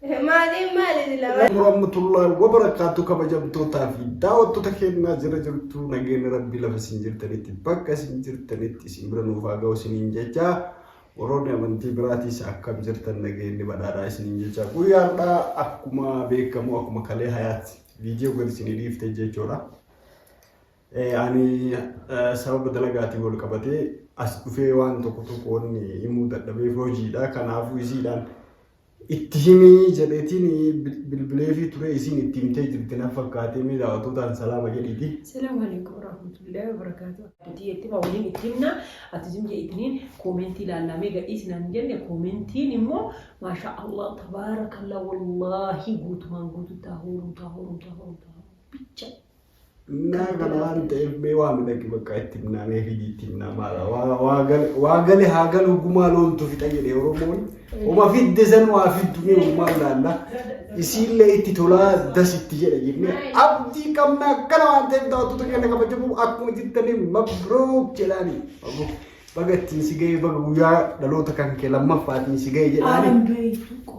Maaliin maali silaa? Murammatullaan wabarakkaattu kabajamtootaa fi daawwattoota kennaa jira jirtu nageenyi rabbii lafa isin jirtanitti bakka isin jirtanitti isin bira nuuf haa ga'u isiniin jecha warroonni amantii biraatiis akkam jirtan nageenyi badhaadhaa isiniin jecha guyyaa har'aa akkuma beekamu akkuma kalee hayaatti viidiyoo gadi isinii dhiifte jechuudha. Eh, Ani eh, sababa dalagaatiin wal qabatee as dhufee waan tokko tokko wanni himuu dadhabeef hojiidha kanaafuu isiidhaan Itti himi jedheetiin bilbileefii ture isiin itti himtee jirti na fakkaatee mee daawwattootaan salaama jedhiiti. Salaamu alaikum warahmatullahi wabarakatuh. Additi jetti ma waliin itti himna ati zim jedhiitiniin koomentii laallaamee gadhiisi naan jenne koomentiin immoo maashaa Allah tabaarakallah wallaahi guutumaan guututti haa hooruu taa hooruu taa hooruu taa hooruu bicha. Naa kana waan ta'eef mee waa midhagi bakka itti himnaa mee fidii itti himnaa maala waa- waa gale- waa gale haa galu gumaa loontu fixa jedhe Oromoon oma fidde san waa fiddu mee gumaa laalla isiillee itti tolaa das itti jedha jennee abdii qabna akkana waan ta'eef daawwattoota keenya kabajamoo akkuma jirtanii mabrook jedhaanii Mabrook. baga ittiin si ga'ee baga guyyaa dhaloota kan kee lammaffaatiin si ga'ee jedhaanii Alhamdulillah.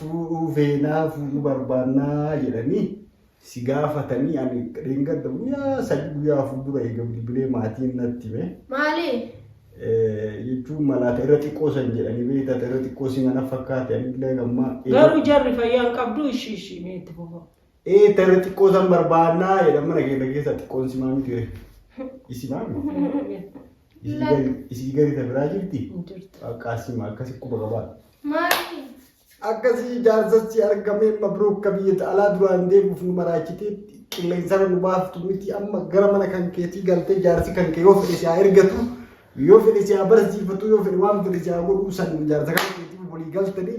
Fuudhuu feenaa fuudhuu barbaannaa jedhanii si gaafatanii ani dheengadda guyyaa sadii guyyaa afur dura eega bilbilee maatiin natti hime. Maali? Jechuun malaata irra xiqqoo san jedhanii beektaa irra xiqqoo si mana fakkaate anillee gammaa. Garuu jarri fayyaan qabdu ishii ishii meetti bofa. Ee tarree xiqqoo san barbaannaa jedhan mana keenya keessaa xiqqoon simaa miti ree. Isimaa miti. Isii gadi isii gadi ta biraa jirti. Jirtu. Akka simaa akkasi quba qabaa. Maali? Akkasii jaarsatti argamee mabruuk ka biyya alaa duraan deemuuf nu maraachitee qilleensarra nu baaftu miti amma gara mana kan keetii galtee jaarsi kan kee yoo fedhe si haa ergatu yoo fedhe si haa barsiifatu yoo fedhe waan fedhe si haa godhu san jaarsa kan keetii walii galtanii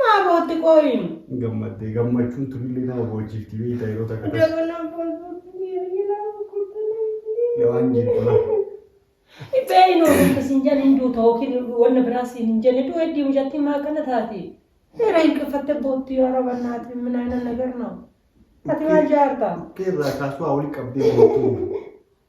Maa bootti qooyin. Gammaddee gammachuun tunillee nama boochiifti beektaa yeroo takka takka. Dabala bootti ilaa guddaa. Yawaan jeettula. Ibbeen oolta siin jedhan hin duuta yookiin wanna biraa siin hin jenne du'e diimu jatti maa kana taate. Seera hin qiffatte bootti yoo roba naati minaa na nagar noo. Ati maal jaarta? Keerraa kaasuu haa walitti qabdee boottuu.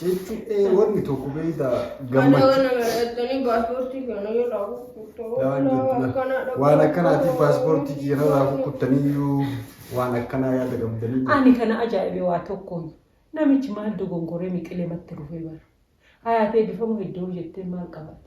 Jechuun ee wanni tokko beeyda Kana gammachuu. waan nama dhaxxanii paaspoortii kana yoo laabu Waan akkanaatiif paaspoortii kiyya irraa kukkuttaniyyuu waan akkanaa yaada qabdanii. Ani kana ajaa'ibe waa tokkoon namichi maal dogongoree miqilee matti rufee bara. Hayaatee bifamu hedduu jettee maal qabate?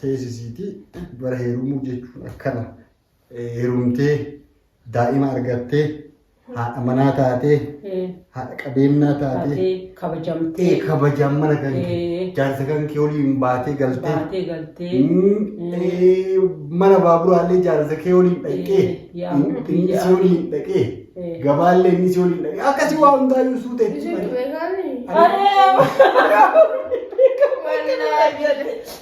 teesisiiti. Bara heerumuu jechuun akkana. Heerumtee daa'ima argattee haadha manaa taatee haadha qabeenyaa taatee Taatee kabajamtee. ee kabajaan mana kan kee Ee. jaarsa kan kee waliin baatee galtee Baatee galtee. Mm, ee, mana baaburaallee jaarsa kee waliin dhaqee Ee, yaa inni rabbi, inni si yaa waliin rabbi. dhaqee Ee. gabaallee inni si waliin dhaqee akkasii waa hundaayyuu suutee Isin beekaanii? Aree! Wallaahi.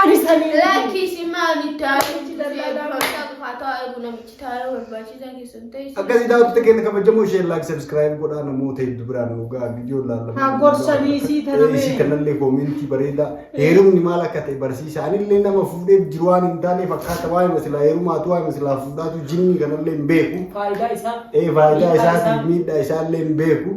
Ani sanii Laakki isin maali taa'ee itti daldalaa barachaa dhufaa taa'aa eegu namichi taa'ee barbaachisaa keessan ta'e. Akkasii daawwattoota keenya kabajamoo ishee laak sabiskiraayib godhaa namoota heddu biraan dhugaa viidiyoo laallamu. Haa gorsanii isii tanamee. Isii kanallee koomentii bareedaa heerumni maal akka ta'e barsiisa. Anillee nama fuudheef jiru waan hin taane fakkaata waan hima silaa heerumaatu waan hima silaa fuudhaatu jinnii kanallee hin beeku. Faayidaa isaa. Ee faayidaa isaatiif miidhaa isaallee hin beeku.